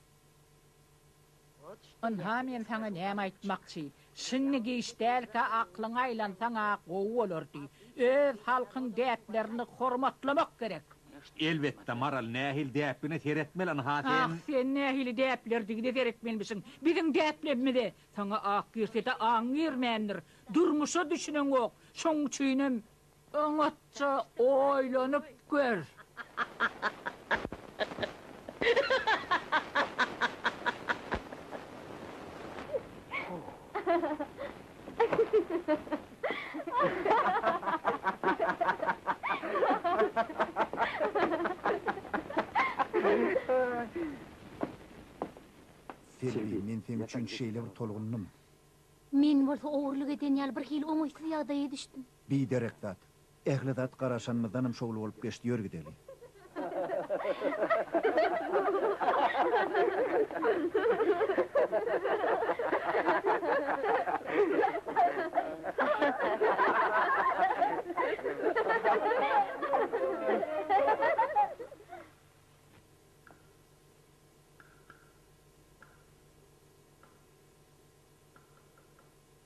Ynha men saňa näme aýtmakçy, şindi giç dälkä aklyňy aýlansaň-a gowy bolardy. Öz halkyň däplerini hormatlamak gerek. Elbetde, Maral, nähili däpgine seretmeli ynha sen? Ah, sen nähili däplerdigine seretmelmişiň. Biziň däplemimize saňa ak girse-de aň girmändir. Durmuşa düşüneňok. Şoň üçinem oňatja oýlanyp gör. Serbi, men seň üçin şeýle bir tolgundym. Men bolsa ogurlyk eden ýaly birhili oňaýsyz ýagdaýa düşdüm. Biderek zat. Ähli zat garaşanymyzdanam şowly bolup geçdi, ýör gideli.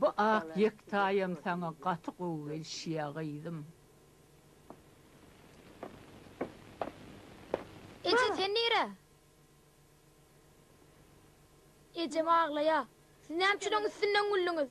Bu ak ýektaýam saňa gaty gowy gelişýä gyzym. Eje sen nire? Ejem aglaýa. Siz näme üçin oň üstünden güldüňiz?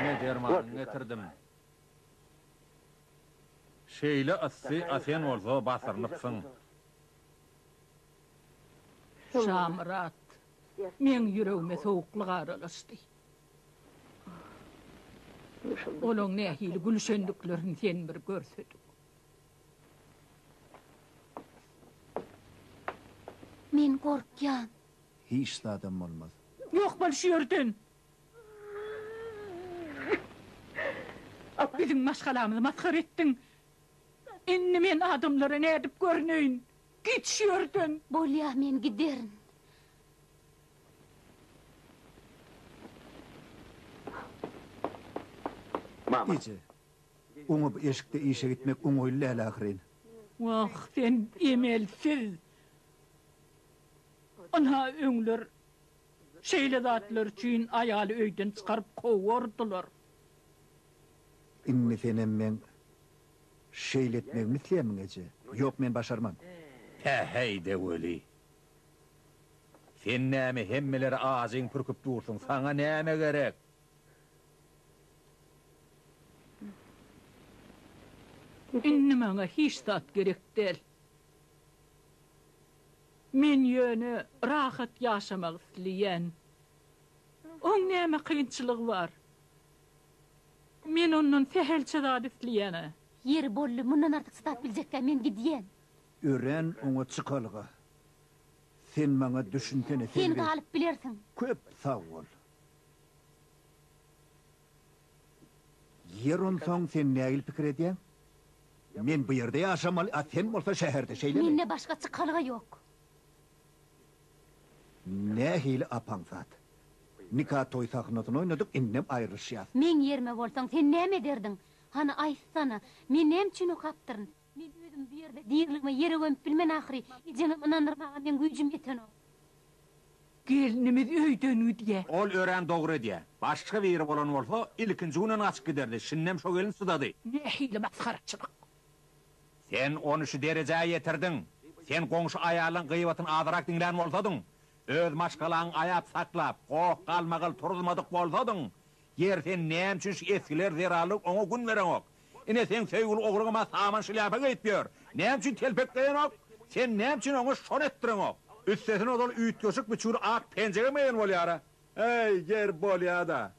Ine dermanyňy getirdim. Şeýle yssy a sen bolsa basyrnypsyň. Şamyrat. Meň ýüregime sowuklyk aralaşdy. Olaň nähili gülüşendiklerini sen bir görsedik. Men gorkýan. Hiç zadam bolmaz. Ýok bol şu ýerden. Biziň maşgalamyzy masgara etdiň. Indi men adamlara nädip görneýin? Git şu ýerden! Bolýar, men giderin. Eje, oňa bu eşikde işe gitmek oňaýly däl ahyryn. Wah, sen emelsiz! Ynha, öňler Şeýle zatlar üçin aýaly öýden çykaryp kowardylar. Indi senem meň şeýle etmegimi isleýärmiň, eje? Ýok, men başarman. Tä-heý-de weli. Sen näme hemmeleri ajyň pürküp dursuň, saňa näme gerek? Indi maňa hiç zat gerek däl. Men ýöne rahat ýaşamak isleýän. Oň näme kynçylygy bar? Men ondan sähelçe zat isleýän-ä. Ýeri boldy, mundan artyk çydap biljekkä men gidýän. Örän oňat çykalga. Sen maňa düşünsene, Selbi. Sen galyp bilersiň. Köp sag bol. Ýer onsoň sen nägil pikir edýäň? Men bu ýerde ýaşamaly, a sen bolsa şäherde, şeýlemi? Mende başga çykalga ýok. Nähili apaň zat. Nika toý sahnasyny oýnadyk, indem aýrylyşýas. Meň ýerime bolsaň, sen näme ederdiň? Hany aýtsana, men näme üçin okapdyryn? Men özüm bu ýerde diriligime ýere gömüp bilmen ahyry, ejeňem ynandyrmaga meň güýjüm ýetenok. Gelnimiz öýden gidýä. Ol örän dogry edýä. Başga biri bolan bolsa, ilkinji günem gaçyp giderdi, şindem şo gelin çydady. Nähili masgaraçylyk! Sen ony şu derejä ýetirdiň. Sen goňşy aýallaň gybatyny azyrak diňlän bolsadyň, öz maşgalaňy aýap saklap, goh-galmagal turuzmadyk bolsadyň, Ýeri sen näme üçin şu esgiler zerarly oňa gün bereňok? Ine seň söýgüli ogluňam-a saman şlýapa geýip ýör. Näme üçin telpekleýenok? Sen näme üçin oňa şony etdireňok? Üstesine ozal üýtgeşik bir çür ak penjegem geýen bolýar-a. Äý, ger bolýa-da.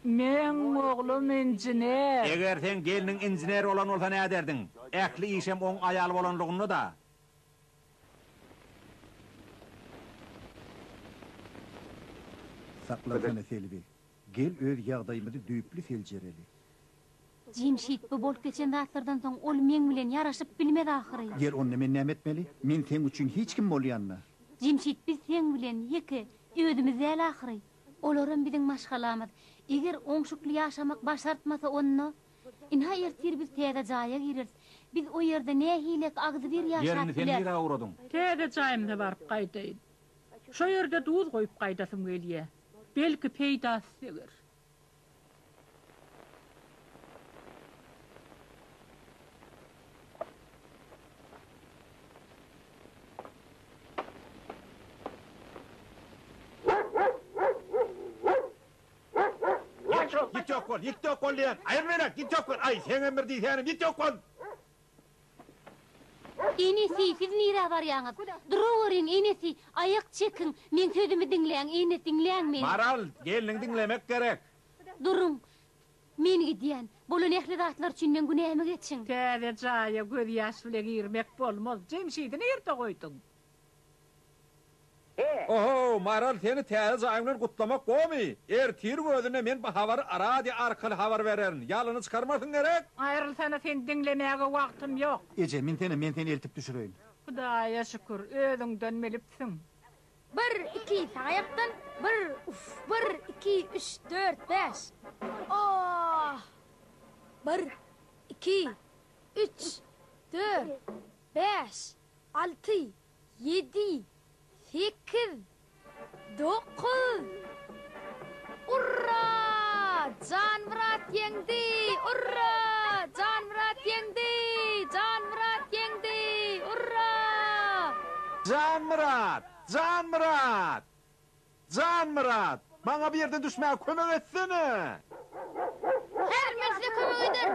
Meň oglum injener. Eger seň gelniň injener bolan bolsa näderdiň? Ähli işem oň aýaly bolanlygynda-da. Saklansana Selbi. Gel öz ýagdaýymyzy düýpli seljereli. Jemşit, bu bolup geçen zatlardan soň ol meň bilen ýaraşyp bilmez ahyry. Gel onda men näme etmeli? Men seň üçin hiç kim bolýan-da. Jemşit, biz seň bilen ýeke özümiz däl ahyry. Olaram biziň maşgalamyz. Eger oňşukly ýaşamak başartmasa onda. Ynha ertir biz täze jaýa gireris. Biz o ýerde nähilek agzybir ýaşap bileris. Täze jaýymyza baryp gaýdaýyn. Şo ýerde duz goýup gaýdasym gelýär. Belki peýdasy deger. Ýet ol, ýet ýok bol, ýet ýok bol diýýän. Aýal beýläk, ýet ýok bol. Aý, seňem bir diýsänim, ýet ýok bol. Enesi, siz nirä barýaňyz? Duraweriň, enesi, aýak çekiň. Meň sözümi diňläň, ene, diňläň meni. Maral, gelniňi diňlemek gerek. Duruň, men gidýän. Bolan ähli zatlar üçin meň günämi geçiň. Täze jaýa gözýaş bile girmek bolmaz. Jemşidi nirde goýduň? Ohow, Maral, seni täze jaýyň bilen gutlamak gowymy? Ertir özüne men bu habary radio arkaly habar bererin. Ýalana çykarmasyň gerek? Aýrylsana, seni diňlemäge wagtym ýok. Eje, minsene, men seni eltip düşüreýin. Hudaýa şükür, özüňden bilipsiň. Bir, iki, sag aýakdan, bir, uf, bir, iki, üç, dört, bäş. Ohh! Bir, iki, üç, dört, bäş. Alty, ýedi, sekiz, dokuz. Urra! Janmyrat ýeňdi! Urra! Janmyrat ýeňdi! Janmyrat ýeňdi! Urra! Janmyrat! Janmyrat! Janmyrat! Maňa bu ýerden düşmäge kömek etsene! Häzir men size kömek ederin!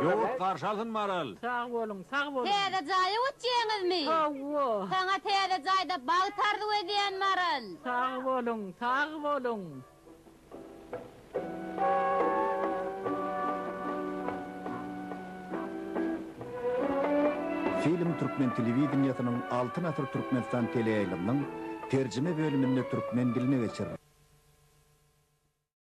Ýurt garşy alsyn Maral. Sag boluň sag boluň. Täze jaýa göçýäňizmi? Hawa. Saňa täze jaýda bagt arzuw edýän Maral. Sag boluň sag boluň. Film türkmen telewideniýesiniň Altyn asyr Türkmenistan teleýaýlymynyň Terjime bölüminde türkmen diline geçiriler.